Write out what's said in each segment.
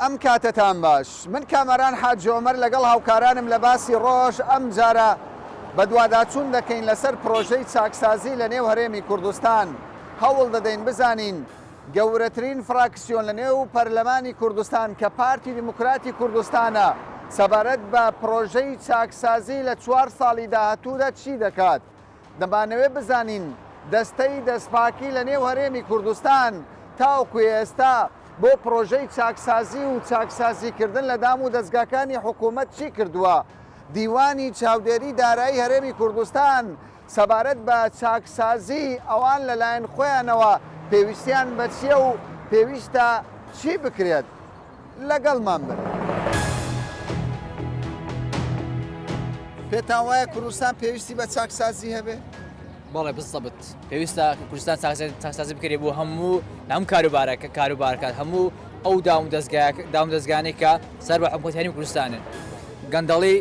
ئەم کاتەتان باش. من کامەران حاجی عومەر لەگەڵ هاوکارانم لە باسی ڕۆژ ئەمجارە بەدواداچوون دەکەین لەسەر پرۆژەی چاکسازی لە نێو هەرێمی کوردستان هەوڵ دەدەین بزانین گەورەترین فراکسیۆن لە نێو پەرلەمانی کوردستان کە پارتی دیموکراتی کوردستانە سەبارەت بە پرۆژەی چاکسازی لە چوار ساڵی داهاتوودا چی دەکات. دەمانەوێت بزانین دەستەی دەستپاکی لە نێو هەرێمی کوردستان تاوەکو ئێستا بۆ پرۆژەی چاکسازی و چاکسازیکردن لە دام و دەزگاکانی حکوومەت چی کردووە؟ دیوانی چاودێری دارایی هەرێمی کوردستان سەبارەت بە چاکسازی ئەوان لەلایەن خۆیانەوە پێویستیان بە چییە و پێویستە چی بکرێت؟ لەگەڵمان بن. پێتان وایە کوردستان پێویستی بە چاکسازی هەبێ؟ بەڵێ بزەبت پێویستە کوردستان چاکسازی بکرێ بۆ هەموو هەم کاروبارە کە کاروبارکات هەموو ئەو داوم دەستگا داوم دەستگانێک کە سەر بە حکوتانی کوردستانن گەندەڵی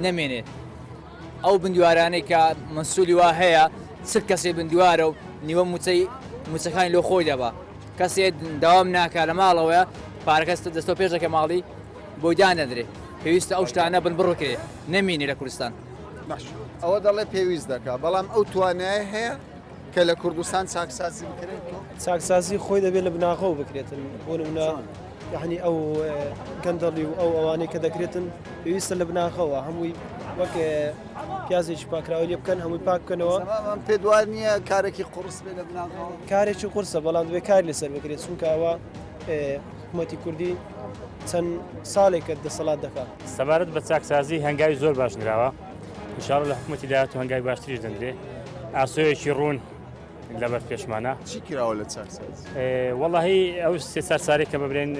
نەمێنێت ئەو بندوارانەی کە مسولی وا هەیە سک کەسی بندوارە و نیوە موچەی موچەکانی لۆ خۆی دەبە کەسێ داوام ناکا لە ماڵەوەیە پارەکەس دەستۆ پێش دەکە ماڵی بۆی دانەدرێ پێویستە ئەو شتانە بن بڕکرێ نەمینێ لە کوردستان ئەوە دەڵێ پێویست دەکا بەڵام ئەو توانای هەیە کە لە کوردستان چاکسازی بکرێت چاکسازی خۆی دەبێت لە بناغەوە بکرێتن بۆ نمونە یەعنی ئەو گەندەڵی و ئەو ئەوانەی کە دەکرێتن پێویستە لە بناخەوە هەمووی وەک پیازێکی پاکراوە لێ بکەن هەمووی پاک بکەنەوە پێ دوای نییە کارێکی قڕس بێ لە بناخەوە کارێکی قورسە بەڵام دوێ کار لەسەر بکرێت چونکە ئەوە حکوومەتی کوردی چەند ساڵێکە دەسەڵات دەکات سەبارەت بە چاکسازی هەنگاوی زۆر باش نراوە انشاءالله لە حکومەتی داهاتوو هەنگاوی باشتریش دەندرێ ئاسۆیەکی ڕوون لەبەر پێشمانە چی کراوە لە چاکساز وەڵی ئەو سێ چار سارێک کە ببرێن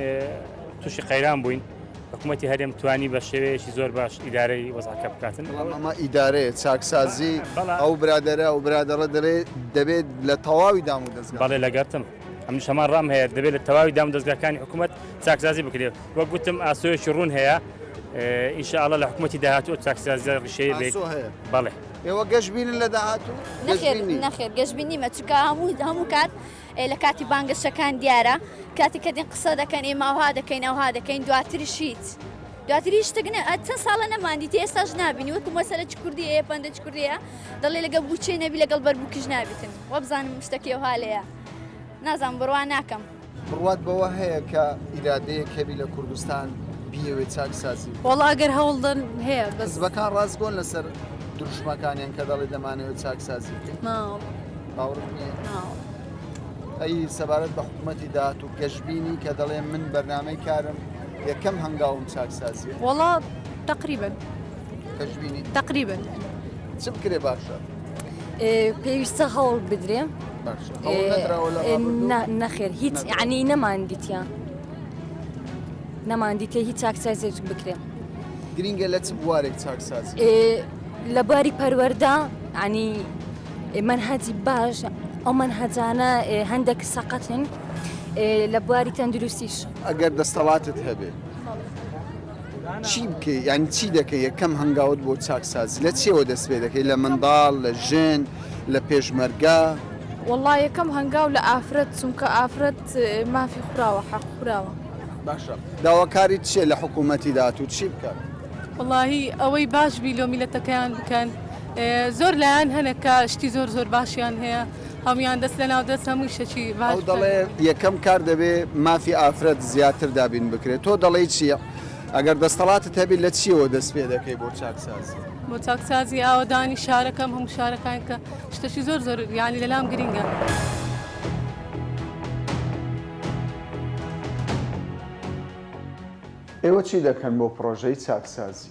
تووشی قەیران بووین حکوومەتتی هەرێم توانی بە شێوەیەکی زۆر باش ئیدارەی وەزعکە بکاتن ئەمە ئیدارەیە چاکسازی ئەو برادرە ئەو برادرە دەرێ دەبێت لە تەواوی دام و دەست بەڵێ لەگەرتم ئەم شەمان ڕام هەیە دەبێت لە تەواوی دام دەستگاکانی حکوومەت چاکسازی بکرێت وەک گوتم ئاسۆیەکی ڕوون هەیە ئینشاءڵە لە حکوومەتتی داهاتوە چاکسازی ڕشەیە بێت بەڵێ ئێوە گەشبینن لە داهاتوو؟ نەخێر نەخێر گەشبین نیمە چکە هەموو هەموو کات لە کاتی بانگەشەکان دیارە کاتی کە دین قسە دەکەن ئێمە ئەوها دەکەین ئەوها دەکەین دواتریش هیچ. دواتری شتەکنە چەند ساڵە نەماندیتی ئێستاش نبینی وەکو مەسەرە چ کوردی ئەیە پندە چ کوردەیە دەڵێ لەگە بچێ نەبی لەگەڵ بەربووکیش نابیتن وەبزانم شتەکەی و هاالەیە نازان بڕوا ناکەم. بڕوات بەوە هەیە کە ئیرادەیەک هەبی لە کوردستان بیەوێ چاکسازی؟ وەڵا ئەگەر هەوڵدن هەیە بەس حزبەکان ڕاستگۆن لەسەر دروشمەکانیان کە دەڵێ دەمانەوە چاکسازی بکەین نا باوەڕت نییە؟ نا ئەی سەبارەت بە حکوومەتی داهات و گەشببینی کە دەڵێ من بەرنمەی کارم یەکەم هەنگاوم چاکسازیە وەڵا تقریبن کەشببینی تقریبن چ بکرێ باشە؟ پێویستە هەوڵ بدرێ نەخێر هیچ عنی نەمان دیتە نەمان دیتە هیچ چاکسازێک بکرێ گرینگە لە چ بوارێک چاکساز لە باری پەروەەردا عنی من هەجی باش ئەو من هەجانە هەندێک سەقەتن لە بواری تەندروستیش ئەگەر دەستەڵاتت هەبێت چی بکەی یانی چی دەکەی یەکەم هەنگاوت بۆ چاکسازی لە چیەوە دەست پێ دەکەی لە منداڵ لە ژن لە پێشمەرگە؟ وەڵا یەکەم هەنگاو لە ئافرەت چونکە ئافرەت مافی خوراوە حەق خوراوە. باشە داواکاریت چیە لە حکومەتی داهاتوو چی بکات؟ وەڵاهی ئەوەی باش بی لۆ میلەتەکەیان بکەن زۆر لایەن هەنە کە شتی زۆر زۆر باشیان هەیە. هەموویان دەست لە ناو دەست هەمووی شەکی باش بکەن. ئەو دەڵێ یەکەم کار دەبێ مافی ئافرەت زیاتر دابین بکرێ تۆ دەڵێی چی؟ ئەگەر دەستەڵاتت هەبی لە چیەوە دەست پێ دەکەی بۆ چاکسازی؟ بۆ چاکسازی ئاوەدانی شارەکەم هەموو شارەکان کە شتەکی زۆر زۆر یانی لەلام گرینگە. ئێوە چی دەکەن بۆ پڕۆژەی چاکسازی؟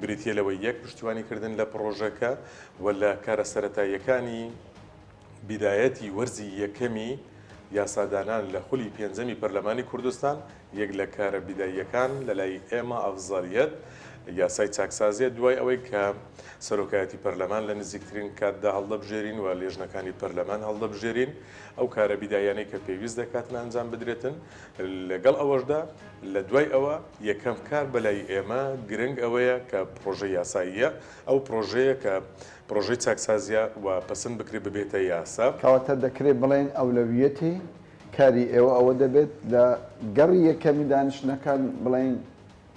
بریتییە لەوەی یەک پشتیوانی کردن لە پڕۆژەکە و لە کارە سەرەتاییەکانی بیدایەتی وەرزی یەکەمی یاسادانان لە خولی پێنجەمی پەرلەمانی کوردستان یەک لە کارە بیداییەکان لەلای ئێمە ئەفزەلیەت یاسای چاکسازیە دوای ئەوەی کە سەرۆکایەتی پەرلەمان لە نزیکترین کاتدا هەڵدەبژێرین و لێژنەکانی پەرلەمان هەڵدەبژێرین ئەو کارە بیدایانەی کە پێویست دەکاتن ئەنجام بدرێتن لەگەڵ ئەوەشدا لە دوای ئەوە یەکەم کار بەلای ئێمە گرنگ ئەوەیە کە پڕۆژە یاساییە، ئەو پڕۆژەیە کە پڕۆژەی چاکسازیە و پەسند بکرێت ببێتە یاسا. کەواتە دەکرێت بڵێین ئەولەویەتی کاری ئێوە ئەوە دەبێت لە گەڕی یەکەمی دانیشتنەکان بڵێین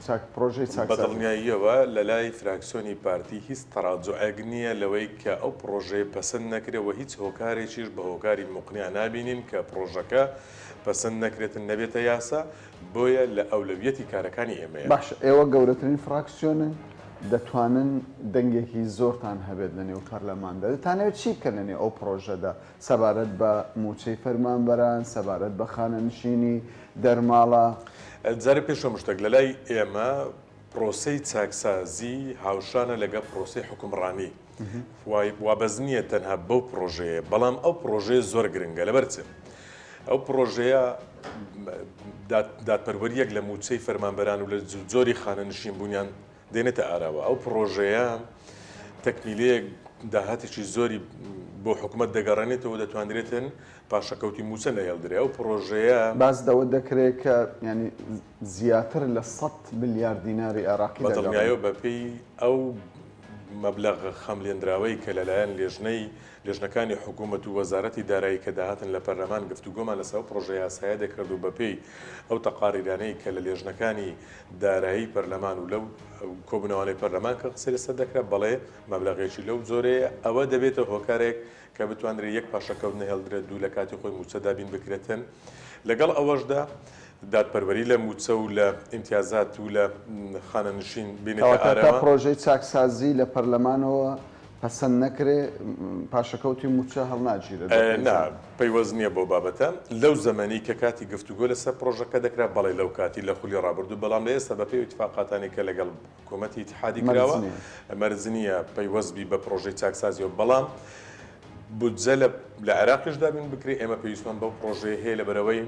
چاک پڕۆژەی چاکسازی. بە دڵنیاییەوە لە لای فراکسیۆنی پارتی هیچ تەڕاجوعێک نییە لەوەی کە ئەو پڕۆژەیە پەسند نەکرێت و هیچ هۆکارێکیش بە هۆکاری موقنع نابینین کە پڕۆژەکە پەسەند نەکرێتن نەبێتە یاسا، بۆیە لە ئەولەویەتی کارەکانی ئێمەیە. باشە ئێوە گەورەترین فراکسیۆنن دەتوانن دەنگێکی زۆرتان هەبێت لە نێو پەرلەماندا، دەتانەوێت چی بکەن لە نێو ئەو پڕۆژەدا سەبارەت بە مووچەی فەرمانبەران، سەبارەت بە خانەنشینی دەرماڵە؟ جارێ پێش هەموو شتێک لەلای ئێمە پڕۆسەی چاکسازی هاوشانە لەگەڵ پڕۆسەی حوکمڕانی. وابەست نییە تەنها بەو پڕۆژەیە بەڵام ئەو پڕۆژەیە زۆر گرنگە لەبەر چ ئەو پڕۆژەیە دادپەروەریەک لە موچەی فەرمانبەران و لە زۆری خانە نشین بوونیان دێنێتە ئاراوە ئەو پڕۆژەیە تەکمیلەیەک داهاتێکی زۆری بۆ حکوومەت دەگەڕێنێتەوە دەتوانرێتن پاشەکەوتی موچە نەهێڵدرێ ئەو پڕۆژەیە باز دەوە دەکرێت کە ینی زیاتر لە سەد ملیار دیناری عێراقی دەگەڕێت. بەدڵنیایەوە بەپێی ئەو مەبلەغە خەملێنراوەی کە لەلایەن لێژنەی لێژنەکانی حکومەت و وەزارەتی دارایی کە داهاتن لە پەرلەمان گفتوگۆمان لەسەر ئەو پڕۆژە یاسایە دەکرد و بەپێی ئەو تەقاریرانەی کە لە لێژنەکانی دارایی پەرلەمان و لەو کۆبوونەوانەی پەرلەمان کە قسەی لەسەر دەکرا بەڵێ مەبلەغێکی لەو جۆرەیە ئەوە دەبێتە هۆکارێک کە بتوانرێت یەک پاشەکەوت نەهێڵدرێت دوو لە کاتی خۆی مووچە دابین بکرێتن، لەگەڵ ئەوەشدا دادپەروەری لە مووچە و لە ئیمتیازات و لە خانەنشین بێنێتە ئارەوە. کەواتە تا پرۆژەی چاکسازی لە پەرلەمانەوە پەسەند نەکرێ پاشەکەوتی مووچە هەڵناگیرێت بە پێی نا، زانیاری. پەیوەست نییە بەو بابەتە. لەو زەمەنی کە کاتی گفتوگۆ لەسەر پرۆژەکە دەکرا، بەڵێ لەو کاتی لە خولی ڕابردوو، بەڵام لە ئێستا بە پێی ئیتفاقاتانی کە لەگەڵ. حکومەتی ئیتحادی کراوە مەرج نییە پەیوەست بی بە پرۆژەی چاکسازیەوە بەڵام بودجە لە عێراقیش دابین بکرێت ئێمە پێویستمان بەو پرۆژەیە هەیە لە بەرەوەی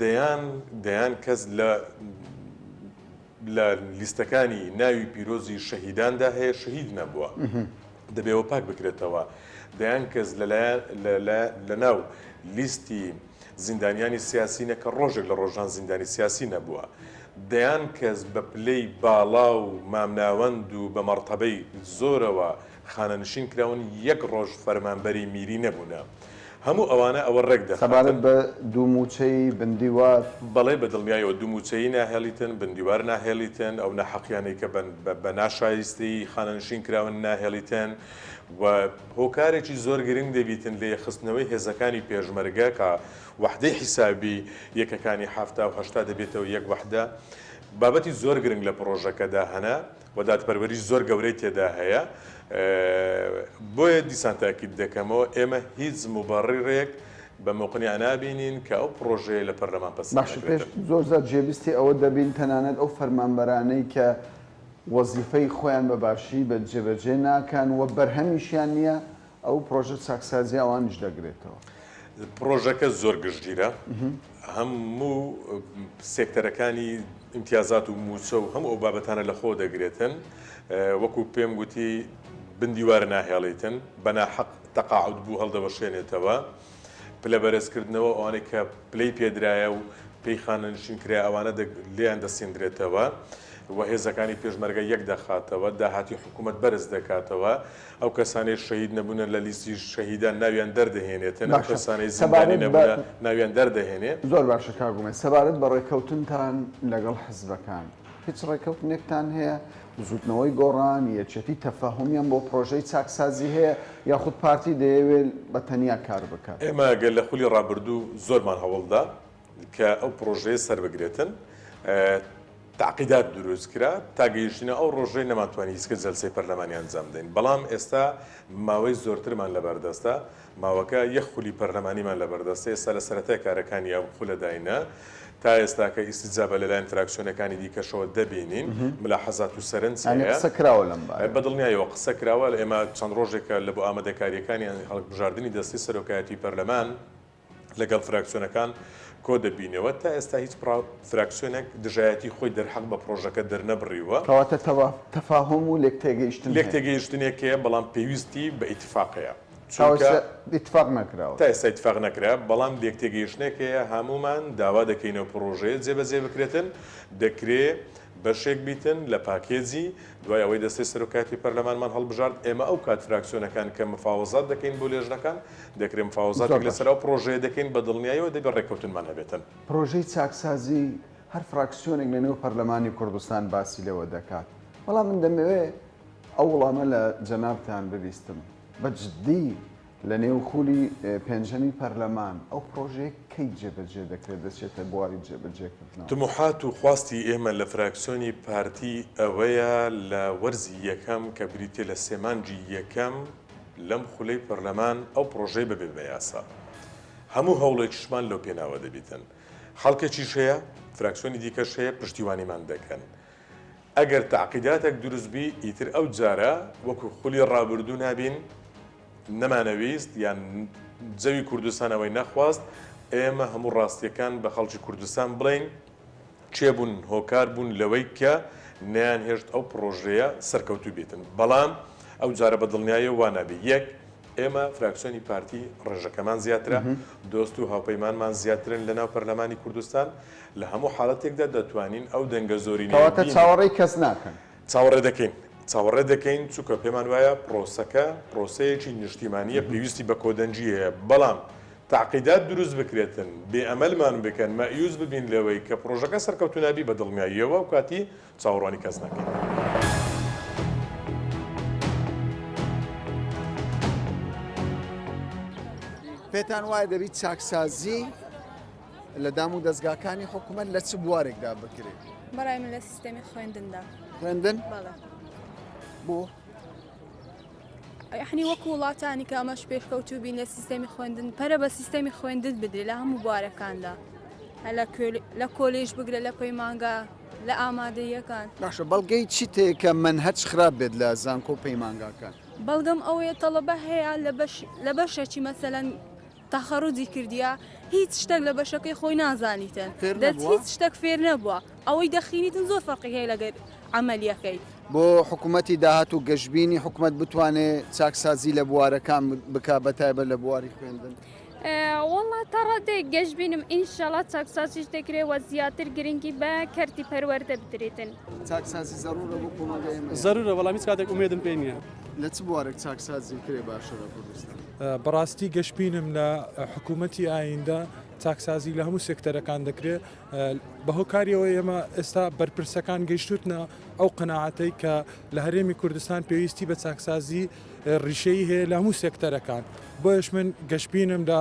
دەیان دەیان کەس لە لە لیستەکانی ناوی پیرۆزی شەهیداندا هەیە شەهید نەبووە دەبێەوە پاک بکرێتەوە دەیان کەس لە ناو لیستی زیندانیانی سیاسی نە کە ڕۆژێک لە ڕۆژان زیندانی سیاسی نەبووە. دەیان کەس بە پلەی باڵا و مامناوەند و بە مەڕتەبەی زۆرەوە خانەنشین کراون یەک ڕۆژ فەرمانبەری میری نەبوونە. هەموو ئەوانە ئەوە ڕێک سەبارەت دەخاتن. بە دوومووچەی بندیوار. بەڵێ بە دڵنیایەوە دوومووچەیی ناهێڵیتن، بندیوار ناهێڵیتن، ئەو ناحەقییانەی کە بە ناشایستەیی خانەنشین کراون ناهێڵیتن و، هۆکارێکی زۆر گرنگ دەبیتن لە یەکخستنەوەی هێزەکانی پێشمەرگە کە وەحدەی حیسابی یەکەکانی حەفتا و هەشتا دەبێتەوە یەک وەحدە. بابەتی زۆر گرنگ لە پڕۆژەکەدا هەنە و دادپەروەری زۆر گەورەی تێدا هەیە. بۆیە دیسان تاکید دەکەمەوە ئێمە هیچ موبەڕیڕێک بە موقنیع نابینین کە ئەو پڕۆژەیە لە پەرلەمان پەسند نەکرێتن. باشە پێش زۆر زات جێبیستی ئەوە دەبین تەنانەت ئەو فەرمانبەرانەی کە وەزیفەی خۆیان بە باشی بە جێبەجێ ناکەن و بەرهەمیشیان نییە، ئەو پڕۆژە چاکسازییە ئەوانیش دەگرێتەوە. پڕۆژەکە زۆر گشتگیرە، هەموو سێکتەرەکانی ئیمتیازات و مووچە و هەموو ئەو بابەتانە لە خۆ دەگرێتن، وەکو پێم گوتی بندیوارە ناهێڵیتن، بە ناحەق تەقاعود بوو هەڵدەوەشێنێتەوە. پلە بەرز کردنەوە ئەوانەی کە پلەی پێدرایە و پێی خانەنشین کرایە ئەوانە لێیان دەسیندرێتەوە و هێزەکانی پێشمەرگە یەک دەخاتەوە داهاتی حکوومەت بەرز دەکاتەوە ئەو کەسانەی شەهید نەبوونە لە لیستی شەهیدان ناویان دەردەهێنێتن ئەو کەسانەی زیبانی نەبوونە ناویان دەردەهێنێ زۆر باشە کاگومێ سەبارەت بە ڕێککەوتنتان لەگەڵ حزبەکان هیچ ڕێککەوتنێکتان هەیە بزوتنەوەی گۆڕان، یەکێتی تەفەهومیان بۆ پرۆژەی چاکسازی هەیە یاخود پارتی دەیەوێ بە تەنیا کار بکات؟ ئێمە گەر لە خولی ڕابردوو زۆرمان هەوڵدا کە ئەو پرۆژەیە سەربگرێتن، تەعقیدات دروست کرا تا گەیشتینە ئەو ڕۆژەی نەمانتوانی هیچ کە جەلسەی پەرلەمانی ئەنجام بدەین، بەڵام ئێستا ماوەی زۆرترمان لەبەردەستە، ماوەکە یەک خولی پەرلەمانیمان لەبەردەستە، ئێستا لە سەرەتای کارەکانی ئەم خولەداینە، تا ئێستاکە ئیستیجابە لەلایەن فراکسیۆنەکانی دیکەشەوە دەبینین، ملاحەزات و سەرنج هەیە. یانی قسە کراوە لەم بارەیەوە؟ بە دڵنیایەوە قسە کراوە، ئێمە چەند ڕۆژێکە لە بۆ ئامادەکارییەکانی هەڵکبژاردنی دەستەی سەرۆکایەتیی پەرلەمان لەگەڵ فراکسیۆنەکان کۆ دەبینەوە، تا ئێستا هیچ فراکسیۆنێک دژایەتیی خۆی دەرحەق بە پڕۆژەکە دەرنەبڕیوە. کەواتە تەفاهوم و لێکتێگەیشتن هەیە؟ لێکتێگەیشتنێک هەیە، بەڵام پێویستی بە ئیتفاق هەیە. چونکە تا ئێستا ئیتفاق نەکرا، بەڵام لێکتێگەیشتنێک هەیە، هەموومان داوا دەکەینەوە پڕۆژەیە جێبەجێ بکرێتن، دەکرێ بەشێک بیتن لە پاکێجی، دوای ئەوەی دەستەی سەرۆکایەتی پەرلەمانمان هەڵبژارد، ئێمە ئەو کات فراکسیۆنەکان کە مفاوەزات دەکەین بۆ لێژنەکان، دەکرێ مفاوەزاتێک لەسەر ئەو پڕۆژەیە دەکەین، بە دڵنیاییەوە دەبێ ڕێککەوتنمان هەبێتن. پڕۆژەی چاکسازی هەر فراکسیۆنێک لەنێو پەرلەمانی کوردستان باسی لێوە دەکات، بەڵام من دەمەوێ، ئەو وڵامە لە جەنابتان ببیستم. بە جدی لە نێو خولی پێنجەمی پەرلەمان ئەو پڕۆژەیە کەی جێبەجێ دەکرێت دەچێتە بواری جێبەجێکردنەوە؟ تموحات و خواستی ئێمە لە فراکسیۆنی پارتی ئەوەیە لە وەرزی یەکەم کە بریتیە لە سێ مانگی یەکەم لەم خولەی پەرلەمان ئەو پڕۆژەیە ببێت بە یاسا. هەموو هەوڵێکیشمان لەو پێناوە دەبیتن. خەڵکێکیش هەیە، فراکسیۆنی دیکەش هەیە پشتیوانیمان دەکەن. ئەگەر تەعقیداتەک دروست بی ئیتر ئەو جارە وەکو خولی ڕابردوو نابین نەمانەویست یان جەوی کوردستان ئەوەی نەخواست ئێمە هەموو ڕاستیەکان بە خەڵکی کوردستان بڵێین کێ بوون هۆکار بوون لەوەی کە نەیان هێشت ئەو پڕۆژەیە سەرکەوتوو بیتن بەڵام ئەو جارە بە دڵنیایەوە وا نابی یەک ئێمە فراکسیۆنی پارتی ڕێژەکەمان زیاترە دۆست و هاوپەیمانمان زیاترن لە ناو پەرلەمانی کوردستان لە هەموو حاڵەتێکدا دەتوانین ئەو دەنگە زۆرینەیە کەواتە بینین. چاوەڕێی کەس ناکەن. چاوەڕێ دەکەین. چاوەڕێ دەکەین چونکە پێمان وایە پرۆسەکە پرۆسەیەکی نیشتیمانییە پێویستی بە کۆدەنگی هەیە بەڵام تەعقیدات دروست بکرێتن بێ ئەمەلمان بکەن مەئیوس ببین لەوەی کە پرۆژەکە سەرکەوتوو نابی بە دڵنیاییەوە ئەو کاتی چاوەڕوانی کەس ناکەین. پێتان وایە دەبی چاکسازی. لە دام و دەستگاکانی حکوومەت لە چ بوارێکدا بکرێت بەڕای من لە سیستەمی خوێندندا خوێندن بۆ یحنی وەکو وڵاتانی کە ئەمەش پێشکەوتوو بین لە سیستەمی خوێندن پەرە بە سیستەمی خوێندن بدرێ لە هەموو بوارەکاندا لە کۆلیش بگرە لە پەیمانگا لە ئامادەیەکان باشە بەڵگەی چی تێکە من هەچ خراپ بێت لە زانکۆ پەیمانگاکان بەڵگەم ئەوەیە تەڵەبە هەیە لە بەشێکی مەسەەن تەخەڕوجی کردیە هیچ شتەک لە بەشەکەی خۆی نازانیتن دەت هیچ شتەک فێر نەبوە ئەوەی دەخینیتن زۆر فەرقی هەیە لەگەر عەمەلیەکەی. بۆ حکومەتی داهاتوو گەشبینی حکومەت بتوانێ چاکسازی لە بوارەکان بکا بە تایبەت لە بواری خوێندن؟ وەڵا تا ڕادەیەک گەشبینم ئینشەڵا چاکسازیش دەکرێ وە زیاتر گرنگی بە کەرتی پەروەردە بدرێتن. چاکسازی زەروورە بۆ کۆمەڵگای ئێمە؟ زەروورە بەڵام هیچ کاتێک ئومێدم پێ نیە. لە چ بوارێک چاکسازی بکرێ باشە لە کوردستان؟ بەڕاستی گەشببینم لە حکوومەتتی ئایندە چاکسازی لە هەموو سێکتەرەکان دەکرێت بە هۆکاریەوە ئێمە ئێستا بەرپرسەکان گەشتوتنە ئەو قەنەعاتەی کە لە هەرێمی کوردستان پێویستی بە چاکسازی ڕیشەی هەیە لە هەموو سێکتەرەکان بۆیش من گەشببینم لە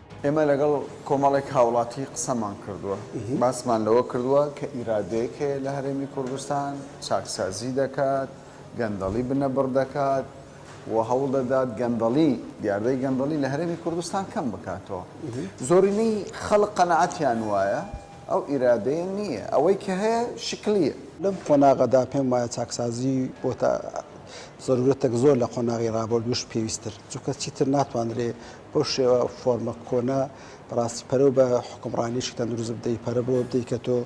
ئێمە لەگەڵ کۆمەڵێک هاوڵاتی قسەمان کردووە، باسمان لەوە کردووە کە ئیرادەیەک هەیە لە هەرێمی کوردستان چاکسازی دەکات، گەندەڵی بنەبڕ دەکات و هەوڵ دەدات گەندەڵی، دیاردەی گەندەڵی لە هەرێمی کوردستان کەم بکاتەوە. زۆرینەی خەڵک قەناعەتیان وایە ئەو ئیرادەیە نییە، ئەوەی کە هەیە شکلییە. لەم قۆناغەدا پێم وایە چاکسازی بۆتە زەروورەتێک زۆر لە قۆناغی ڕابردووش پێویستتر، چونکە چیتر ناتوانرێت. بەو شێوە فۆرمە کۆنە بەڕاستی پەرە و بە حکومڕانیشی تەندروست بدەی پەرە بۆ بدەی کە تۆ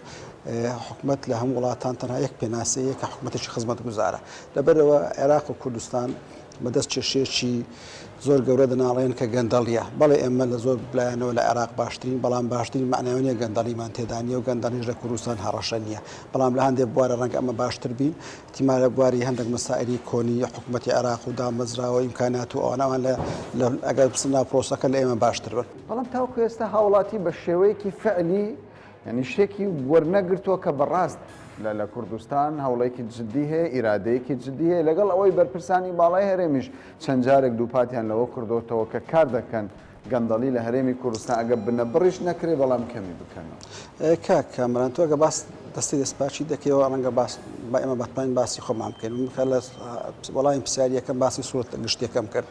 حکومت لە هەم وڵاتان تەنها یەک پێناسەیە کە حکومەتێکی خزمەت گوزارە لەبەرەوە عێراق و کوردستان بەدەست کێشێکی زۆر گەورە دەناڵێن کە گەندەڵیە بەڵێ ئێمە لە زۆر بلایەنەوە لە عێراق باشترین بەڵام باشترین معناوانە گەندەڵیمان تێدانە و گەندەڵیش لە کوردستان هەڕەشە نییە بەڵام لە هەندێک بوارە ڕەنگ ئەمە باشتر بین تیما لە بواری هەندەک مەسائیلی کۆنی حکومەتی عێراق و دامەزرا و ئیمکانات و ئەوانە ئەوان لە ئەگەر بچنە ناو پرۆسەکە لە ئێمە باشتر بن. بەڵام تاوەکو ئێستا هاوڵاتی بە شێوەیەکی فعلی یانی شتێکی وەرنەگرتووە کە بە ڕاست لە لە کوردستان هەوڵێکی جددی هەیە ئیرادەیەکی جددی هەیە لەگەڵ ئەوەی بەرپرسانی باڵای هەرێمیش چەند جارێک دووپاتیان لەوە کردۆتەوە کە کار دەکەن گەندەڵی لە هەرێمی کوردستان ئەگەر بنەبڕیش نەکرێت بەڵام کەمی بکەنەوە. کاک کامەران تۆ ئەگەر باس دەستەی دەستپاکی دەکەیەوە ڕەنگە باس با ئێمە بەتوانین باسی خۆمان بکەین من کە لە وەڵامی پرسیاریەکەم باسی سوورەتە گشتیەکەم کرد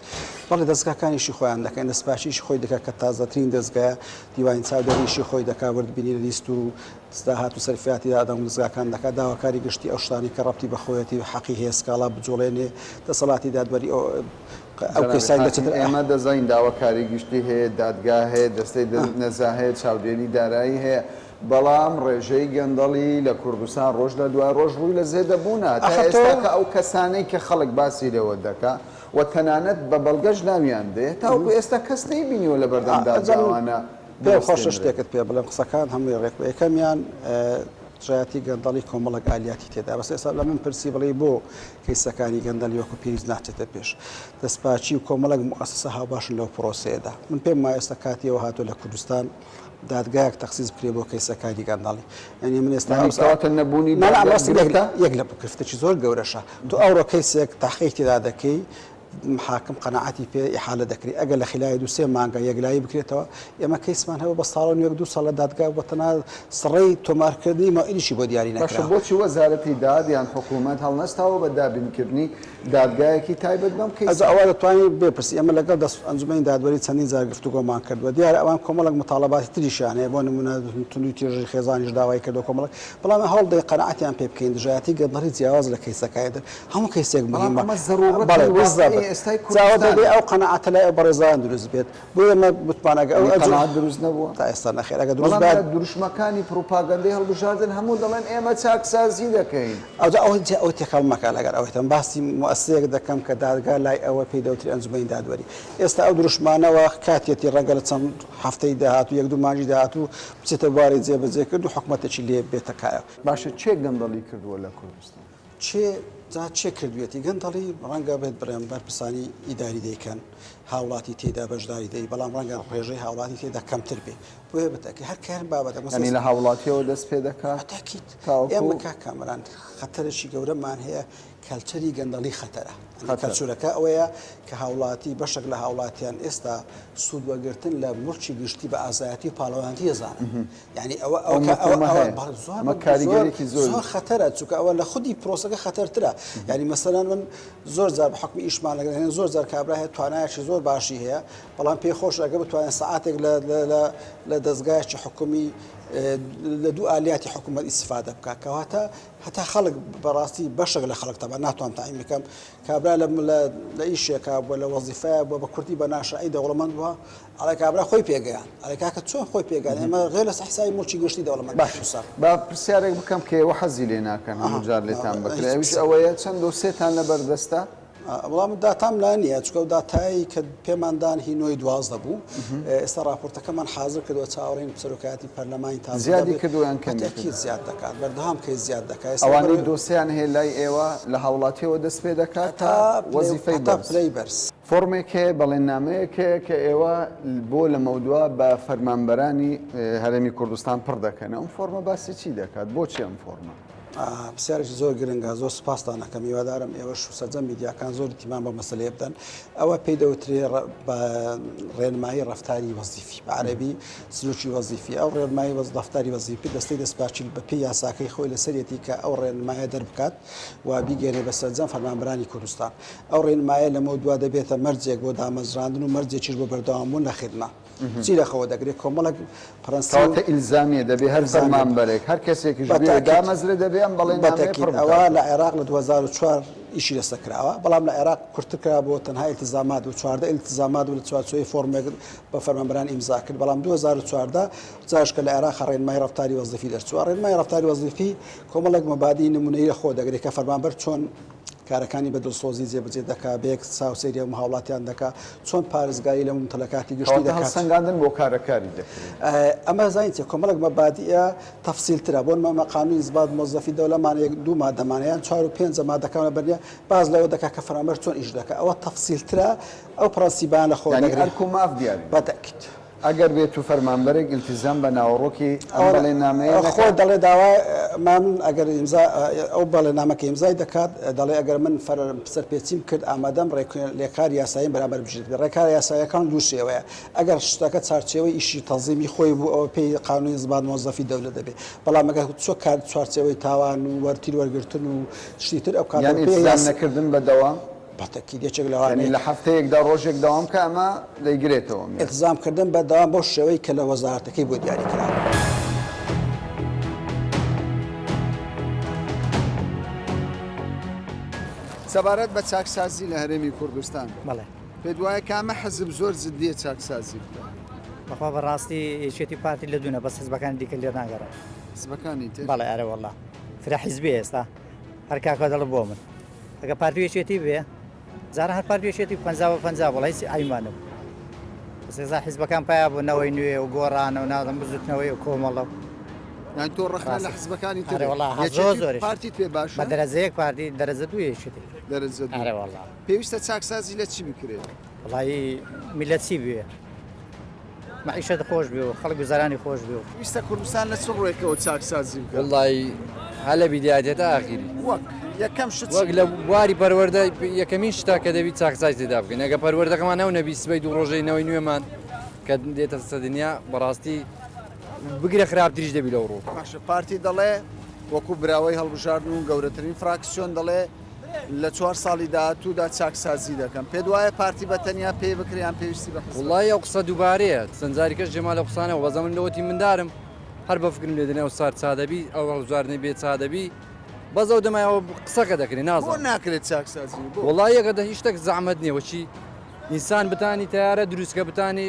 بەڵێ دەستگاکانیشی خۆیان دەکەن دەستپاکیشی خۆی دەکات کە تازەترین دەستگایە دیوانی چاودێریشی خۆی دەکات وردبینی لیست و ستا هاتو سەرفیاتی دادە ونزگاکان دەکات داواکاری گشتی ئەو شتانەی کە ڕەبتی بە خۆیەتی و حەقی هەیە سکاڵا بجوڵێنێ دەسەڵاتی دادوەری ئەو ئەو جەنابی کەیسانی لە حاکم چەتر ئێمە دەزانین داواکاری گشتی هەیە دادگا هەیە دەستەی دە نەزا هەیە چاودێری دارایی هەیە بەڵام ڕێژەی گەندەڵی لە کوردستان ڕۆژ لە دوای ڕۆژ ڕووی لە زێدە بوونە تا ئاخر تۆ ئێستا کە ئەو کەسانەی کە خەڵک باسی لێوە دەکا و تەنانەت بە بەڵگەش ناویان دێ تاوەکو ئێستا کەس نەیبینیوە لە بەردەم ئەجا من دادگاوانە پێم خۆشە شتێکت پێ بڵێم قسەکان هەمووی ڕێک بە یەکەمیان دژایەتی گەندەڵی کۆمەڵک ئالیاتی تێدا بەس ئێستا لە من پرسی بڵێ بۆ کەیسەکانی گەندەلی وەکو پێویست ناچێتە پێش دەستپاچی و کۆمەڵک موسسە هاوباشن لەو پرۆسەیەدا من پێم وایە ئێستا کاتیەوە هاتووە لە کوردستان دادگایەک تەخصیز بکرێ بۆ کەیسەکانی گەنداڵی ئەنی من ئێستا ئەوساواتە نەبوونی یەک لە بکرفتێکی زۆر گەورەشە تو ئەوڕۆ کەیسێک تاقیی تێدا دەکەی حاکم قەناعەتی پێ ئیحالە دەکرێت ئەگەر لە خلای دو سێ مانگە یەکلایی بکرێتەوە ئێمە کەیسمان هەبوو بە ساڵ و نوێک دو ساڵ لە دادگا بۆ تەنها سڕەی تۆمارکردنی مەوعیدیشی بۆ دیاری باشە نەکرا. بۆچی وەزارەتی داد یان حکوومەت هەڵنەستاوە بە دابینکردنی دادگایەکی تایبەت بەم ئەزا کەیسە؟ ئەوە دەتوانی بپرسی ئێمە لەگەڵ دەست ئەنجومەنی دادوەری چەندین جار گفتوگۆمان کردووە دیارە ئەوان کۆمەڵێک متاڵەباتی تریشیان هەیە بۆ نموونە توندوی تیژی خێزانیش داوای کردووە کۆمەڵێک بەڵام هەوڵدەین قەناعەتیان پێ بکەین دژایەتی گەندەڵی جیاواز لە کەیسەکانی تر هەموو کەیسێک بەڵام مهمە ئەمە زەروڕەتی بەڵێ واقعی بزەبت ئێستای جاوە کوردستانە. دەبێ ئەو قەناعەتە لای ئەو بەڕێزان دروست بێت بۆیە مە متمان ئەگە ئەو یعنی ئەجر قەناعەت دروست نەبووە؟ تا ئێستا نەخێر ئەگە دروست بەڵام بات لە دروشمەکانی پروپاگەندەی هەڵبژاردن هەموو دەڵێن ئێمە چاکسازی دەکەین. ئەوجا ئەوە جا ئەوە تێکەڵ مەکە لەگەڵ ئەوەی تەم باسی موئەسسەیەک دەکەم کە دادگا لای ئەوە پێی دەوترێ ئەنجومەنی دادوەری ئێستا ئەو دروشمانەوە کاتیەتی ڕەنگە لە چەند هەفتەی داهاتوو یەک دوو مانگی داهاتوو بچێتە بواری جێبەجێکرد و حکومەتێکی لێ بێتە کایە. باشە کێ گەندەڵی کردووە لە کوردستان؟ چێ جا چێ کردوێتی گەندەڵی ڕەنگە بێت بڕێن بەرپرسانی ئیداری دەیکەن هاوڵاتی تێدا بەشداری دەی بەڵام ڕەنگە ڕێژەی هاوڵاتی تێدا کەمتر بێ بۆیە بتەکە هەر کار بابەتە مەسەنی لە هاوڵاتیەوە دەست پێ دەکات تاکیت ئێمەکە کامران خەتەرێکی گەورەمان هەیە کەلچەری گەندەڵی خەتەرە کەلچورەکە ئەوەیە کە هاوڵاتی بەشێک لە هاوڵاتیان ئێستا سوودوەگرتن لە مڵکی گشتی بە ئازایەتی پاڵەوانتی ێزانن یانی ئەوە ئەو مەفهومە هەیە ئەمە کاریگەریەکی زۆری زۆر خەتەرە چونکە ئەوە لە خودی پرۆسەکە خەتەرترە یانی مەسەلەن من زۆر جار بە حکومی ئیشمان لەگەڵ هێن زۆر جار کابرا هەیە توانایشی زۆر باشی هەیە بەڵام پێ خۆش ئەگە بتوانێت سعاتێک لە دەستگایکی حکومی لە دوو ئالیاتی حکوومەت ئیسفادە بکە کەواتە هەتا خەڵک بەڕاستی بەشێک لە خەڵک تەبا ناتوان تایم بکەم کابرا لە لە ئیشێکا بووە لە وەزیفەیە بووە بە کوردی بە ناشعی دەوڵەمەند بووە ئەڵێ کابرا خۆی پێگەیاند. ئەڵێ کاکە چۆن خۆی پێگەیاند؟ ئێمە غێر لەسەر حیسابی موڵکی گشتی دەوڵەمەند بین. باشە قسە. با پرسیارێک بکەم کە ئێوە حەزی لێ ناکەن هەموو جار لێتان بکرێ ئەویش ئەوەیە چەند دۆسێتان لە بەر دەستە؟ وەڵام داتام لا نییە چونکە ئەو داتایەی کە پێمان دان هی نۆی دوازدە بوو. ئێستا ڕاپۆرتەکەمان حازر کردووە چاوەڕێین سەرۆکایەتی پەرلەمانی تازە. زیادی کردووە یان کەمی کردووە؟ تەئکید زیاد دەکات. بەردەوام کەی زیاد دەکات. ئەوانەی دۆسێیان هەیە لای ئێوە لە هاوڵاتییەوە دەست پێ دەکات تا وەزیفەی بەرز؟ هەتا پلەی بەرز. فۆڕمێک هەیە، بەڵێننامەیەک هەیە کە ئێوە بۆ لەمەودوا بە فەرمانبەرانی هەرێمی کوردستان پڕ دەکەن، ئەم فۆڕمە باسی چی دەکات؟ بۆچی ئەم فۆڕمە؟ پرسیارێکی زۆر گرنگە، زۆر سوپاستان ئەکەم، هیوادارم ئێوەش و سەرجەم میدیاکان زۆر ئیهتیمام بەم مەسەلەیە بدەن، ئەوە پێی دەوترێ بە ڕێنمایی ڕەفتاری وەزیفی، بە عەرەبی سلوکی وەزیفی، ئەو ڕێنمایی ڕەفتاری وەزیفی دەستەی دەستپاچیل بەپێی یاساکەی خۆی لەسەرێتی کە ئەو ڕێنمایە دەربکات. و بیگەیەنێت بە سەرجەم فەرمانبەرانی کوردستان. ئەو ڕێنمایە لەمەو دوا دەبێتە مەرجێک بۆ دامەزراندن و مەرجێکیش بۆ بەردەوامبوون لە خیدمە. چی لەخەوە دەگرێت؟ کۆمەڵێک پرەنسیپ. کەواتە ئیلزامییە دەبێت هەر فەرمانبەرێک، هەر کەسێکیش بوێ دامەزرێت دەبێت ئەم بەڵێننامەیە پڕ بکات. ئەوە لە عێراق لە دوو هەزار و چوار ئیشی لەسەر کراوە، بەڵام لە عێراق کورتتر کراوە بۆ تەنها ئیلتزامات و چواردە ئیلتزامات و لە چوارچێوەی فۆڕمێک بە فەرمانبەران ئیمزا کرد، بەڵام دوو هەزار و چواردە جاش کە لە عێراق ڕێنمای ڕەفتاری وەزیفی دەرچووە. ڕێنمای ڕەفتاری وەزیفی کۆمەڵێک مەبادیی نموونەیی لە خۆ دەگرێت کە فەرمانبەر چۆن کارەکانی بە دڵسۆزی جێبەجێ دەکات، بە یەک چاو سەیری هەموو هاوڵاتیان دەکات، چۆن پارێزگاری لە مومتەلەکاتی گشتی دەکات. کەواتە هەڵسەنگاندن بۆ کارە کاری دەکرێت. ئەمە زانین چییە؟ کۆمەڵێک مەبادییە تەفسیلترە، بۆ نموونە قانون انضباط موظفی الدولە مان یەک دوو مادەمانە یان چوار و پێنجە مادەکان لە بەرنیە باس لەوە دەکات کە فەرمانبەر چۆن ئیش دەکات، ئەوە تەفسیلترە ئەو پرەنسیبانە لە خۆ دەگرێت. یانی ئەرک و ماف دیاری دەکات. بە تەئکید. ئەگەر بێت و فەرمانبەرێک ئیلتیزام بە ناوەڕۆکی ئەم بەڵێننامەیە نەکات. خۆ دەڵێ داوا ئەمان ئەگەر ئیمزا ئەو بەڵێننامە کە ئیمزای دەکات دەڵێ ئەگەر من سەرپێچیم کرد ئامادەم ڕێکار یاساییم بەرامبەر بژیت بێ. ڕێکارە یاساییەکان دوو شێوەیە. ئەگەر شتەکە چوارچێوەی ئیشی تەنزیمی خۆی بوو ئەوە پێی قانوونی ئینزبات مۆزەفی دەولە دەبێ. بەڵام ئەگەر چووە کار چوارچێوەی تاوان و وەرتیر وەرگرتن و شتی تر ئەو کاتە یان ئیلتیزام نەکردن بە دەوام. بە تەکید یەکێک لەوانەی. یانی لە هەفتەیەکدا ڕۆژێک دەوام بکە ئەمە دەیگرێتەوە. ئیلتزام کردن بە دەوام بەو شێوەی کە لە وەزارەتەکەی بۆ دیاری کراوە. سەبارەت بە چاکسازی لە هەرێمی کوردستان بەڵێ پێت وایە کامە حەزب زۆر جددیە چاکسازی بکە بەخوا بەڕاستی یەکێتی پارتی لە دوونە بەس حزبەکان دیکە لێ ناگەڕێ حزبەکانی تر بەڵێ ئەرە والله فرە حزبی ئێستا هەر کاکە دەڵە بۆ من ئەگەر پارتی یەکێتی بێ جارە هەر پارتی یەکێتی پ بە پ بڵ هیچ ئایمانە سزا حیزبەکان پیا بوو نەوەی نوێ و گۆڕانە و نادەم بزوتنەوەی و کۆمەڵە یان تۆ ڕخنا لە حزبەکانی تێ پارتی توێ باش بە دەرەزەیەک پارتی دەرەزە دوێشی دەرەزە پێویستە چاکسازی لە چی بکرێت وڵی میلەتی بوێ مەعیشەت خۆش بێ و خەڵک گوزەرانی خۆش بێ و. ویستە کوردستان لە چ ڕووێکەوە چاکسازی بکا؟ وەڵڵایی هەر لە بیدایەتێ تا ئاخیری. وەک یەکەم شت چی وەک لە بکەین؟ بواری پەروەردە یەکەمین شتە کە دەبی چاکسازی تێدا بکەین ئەگە پەروەردەکەمان نەو نەبی سبەی دوو ڕۆژەی نەوەی نوێمان کە دێتە سە دنیا بەڕاستی بگرە خراپتریش دەبی لەو ڕوو. باشە پارتی دەڵێ وەکو براوەی هەڵبژاردن و گەورەترین فراکسیۆن دەڵێ، لە چوار ساڵی داهاتوودا چاکسازی دەکەن پێت وایە پارتی بە تەنیا پێی بکریان پێویستی بە حزب وڵی ئەو قسە دووبارەیە چەند جاریکەش جێما لە قسانە وەزە من لەوەتی مندارم هەر بە فکرم لێ دەنێ ئەو سار چادەبی ئەو هەڵبژاردنەی بێ چادەبی بەس ئەو دەمایەوە قسەکە دەکرێ نازان ناکرێت چاکسازی وڵی یەکە دە هیشتەک زەحمەت نییە وەچی ئینسان بتانی تارە دروستکە بتانی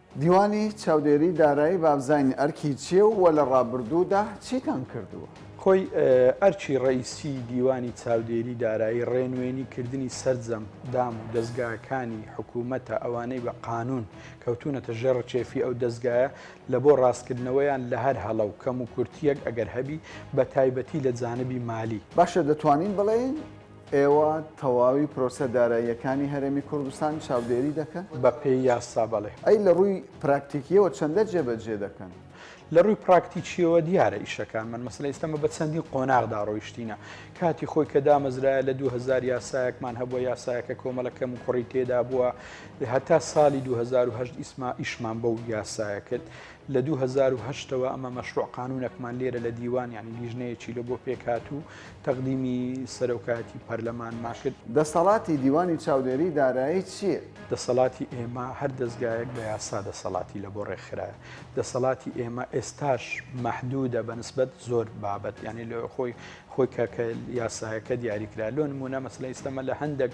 دیوانی چاودێری دارایی بابزانین ئەرکی چیە و لە ڕابردوودا چیتان کردووە؟ خۆی ئەرکی ڕەئیسی دیوانی چاودێری دارایی ڕێنوێنی کردنی سەرجەم دام و دەزگاکانی حکومەتە ئەوانەی بە قانون کەوتونەتە ژێر ڕکێفی ئەو دەزگایە لە بۆ ڕاستکردنەوەیان لە هەر هەڵە و کەم و کورتیەک ئەگەر هەبی بە تایبەتی لە جانبی مالی. باشە دەتوانین بڵێین ئێوە تەواوی پرۆسە داراییەکانی هەرێمی کوردستان چاودێری دەکەن؟ بە پێی یاسا بەڵێ. ئەی لە ڕووی پراکتیکیەوە چەندە جێبەجێ دەکەن؟ لە ڕووی پراکتیکیەوە دیارە ئیشەکانمان مەسەلە ئێستەمە بە چەندین قۆناغدا ڕۆیشتینە کاتی خۆی کە دامەزرایە لە 2000 یاسایەکمان هەبووە یاسایەکە کۆمەڵە کەم و کوڕی تێدا بووە هەتا ساڵی 2010 ئیسما ئیشمان بەو یاسایە کرد لە 2010ەوە ئەمە مەشروع قانونەکمان لێرە لە دیوان ینی لیژنەیەکی لە بۆ پێکات و تەقدیمی سەرۆکایەتی پەرلەمانمان کرد. دەسەڵاتی دیوانی چاودێری دارایی چییە؟ دەسەڵاتی ئێمە هەر دەزگایەک بە یاسا دەسەڵاتی لەبۆ ڕێکخرایە. دەسەڵاتی ئێمە ئێستاش مەحدوودە بە نسبەت زۆر بابەت. یانی لۆ خۆی خۆی کە کە یاسایەکە دیاریکرا. لۆ نموونە مەسەلەن ئیستە مە لە هەندێک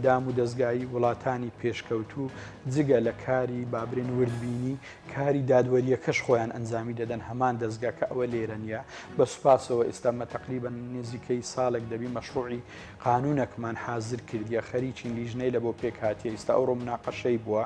دام و دەزگایی وڵاتانی پێشکەوتوو جگە لە کاری با برێن وردبینی کاری دادوەریەکەش خۆیان ئەنجامی دەدەن هەمان دەزگا کە ئەوە لێرە نیە بە سوپاسەوە ئێستامە تقریبا نزیکەی ساڵێک دەبی مەشروعی قانونەکمان حازر کردیە خەریکی لیژنەی لە بۆ پێک هااتێ ئیستا ئەو ڕۆمناقەشەی بووە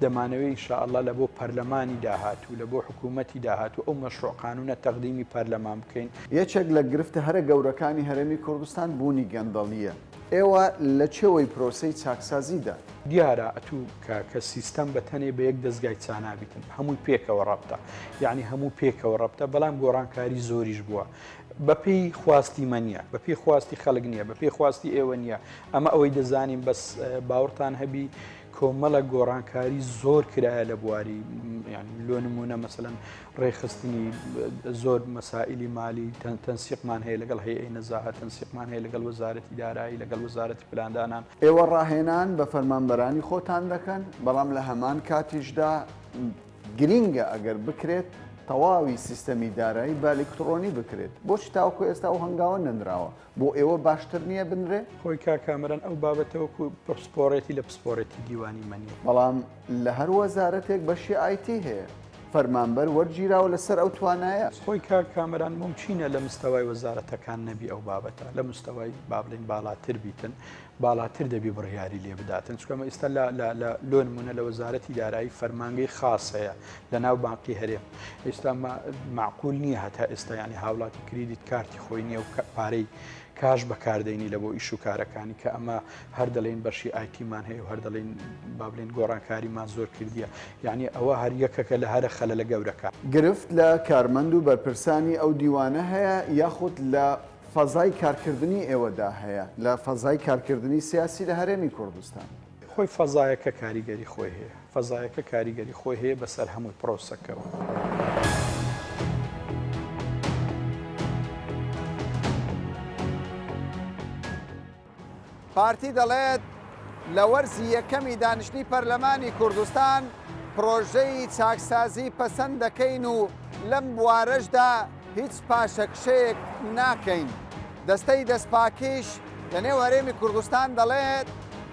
دەمانەوەی شاءله لە بۆ پەرلەمانی داهات و لە بۆ حکوومەتی داهات و ئەو مەشروع قانونە تەقدیمی پەرلەمان بکەین یەکێک لە گرفتە هەرە گەورەکانی هەرێمی کوردستان بوونی گەندەڵیە. ئێوە لە چێوەی پرۆسەی چاکسازیدان. دیارە ئەتوو کاکە سیستەم بە تەنێ بە یەک دەزگای چانابیتن هەمووی پێکەوە ڕەبتە یانی هەموو پێکەوە ڕەبتە بەڵام گۆڕانکاری زۆریش بووە بە پێی خواستی مە نیە بە پێی خواستی خەلک نیە بە پێی خواستی ئێوە نیە ئەمە ئەوەی دەزانین بەس باوڕتان هەبی کۆمەڵە گۆڕانکاری زۆر کرایە لە بواری لۆ نمونە مەسەەن ڕێخستنی زۆر مەسائلی مالی تەنسیقمان هەیە لەگەڵ هەیە نەزاهە تەنسیقمان هەیە لەگەڵ وەزارەتی دارایی لەگەڵ وەزارەتی پلاندانان ئێوە ڕاهێنان بە فەرمانبەرانی خۆتان دەکەن بەڵام لە هەمان کاتیشدا گرینگە ئەگەر بکرێت تەواوی سیستەمی دارایی بالکتڕۆنی بکرێت بۆچ تاوکو ئێستا و هەنگاوە نەنراوە بۆ ئێوە باشتر نییە بنرێ؟ خۆی کا کامەران ئەو بابەتە وەکو پسپۆڕێتی لە پسپۆڕێتی دیوانی مەنی. بەڵام لە هەر وەزارەتێک بەشی ئایتی هەیە. فەرمانبەر وەرگیراوە لەسەر ئەو توانایە. خۆی کا کامەران مومکینە لە مستەوای وەزارەتەکان نەبی ئەو بابەتە لە مستەوای با بڵێین باڵاتر بیتن. باڵاتر دەبی بڕیاری لێ بداتن چکەمە ئیستا لۆن منە لە وەزارەتی دارایی فەرمانگەی خاص هەیە لە ناو بانقی هەرێم ئیستا معقول نییە هەتا ئێستا ینی هاوڵاتی کریدیت کارتی خۆی نییە و پارەی کاش بەکاردێنی لە بۆ ئیش و کارەکانی کە ئەمە هەر دەڵێن بەشی ئایتیمان هەیە و هەر دەڵێن بابلین گۆڕانکاریمان زۆر کردیە یعنی ئەوە هەر یەکەکە لە هەرە خەلە لە گەورەکە گرفت لە کارمەند و بەرپرسانی ئەو دیوانە هەیە یاخود لە فەزای کارکردنی ئێوەدا هەیە لە فەزای کارکردنی سیاسی لە هەرێمی کوردستان؟ خۆی فەزایەکە کاریگەری خۆی هەیە، فەزایەکە کاریگەری خۆی هەیە بەسەر هەموو پرۆسەکەوە. پارتی دەڵێت، لە وەرزی یەکەمی دانیشتنی پەرلەمانی کوردستان پرۆژەی چاکسازی پەسەند دەکەین و لەم بوارەشدا هیچ پاشەکشەیەک ناکەین. دەستەی دەستپاکیش لەنێو هەرێمی کوردستان دەڵێت،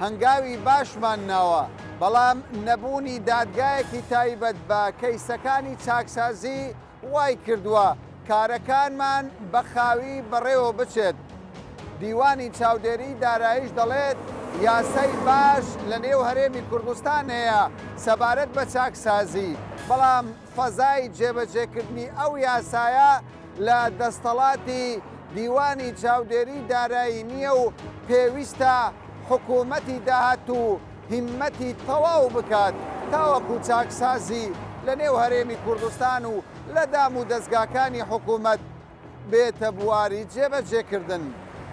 هەنگاوی باشمان ناوە، بەڵام نەبوونی دادگایەکی تایبەت بە کەیسەکانی چاکسازی، وایکردووە کارەکانمان بە خاوی بەڕێوە بچێت. دیوانی چاودێریی داراییش دەڵێت، یاسای باش لەنێو هەرێمی کوردستان هەیە سەبارەت بە چاکسازی، بەڵام فەزای جێبەجێکردنی ئەو یاسایە لە دەستەڵاتی دیوانی چاودێریی دارایی نییە و پێویستە حکوومەتی داهاتوو هیممەتی تەواو بکات تاوەکو چاکسازی لە نێو هەرێمی کوردستان و لە دام و دەزگاکانی حکوومەت بێتە بواری جێبەجێکردن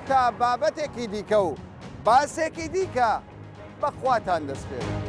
تا بابەتێکی دیکە و باسێکی دیکە بە خواتان دەسپێرم.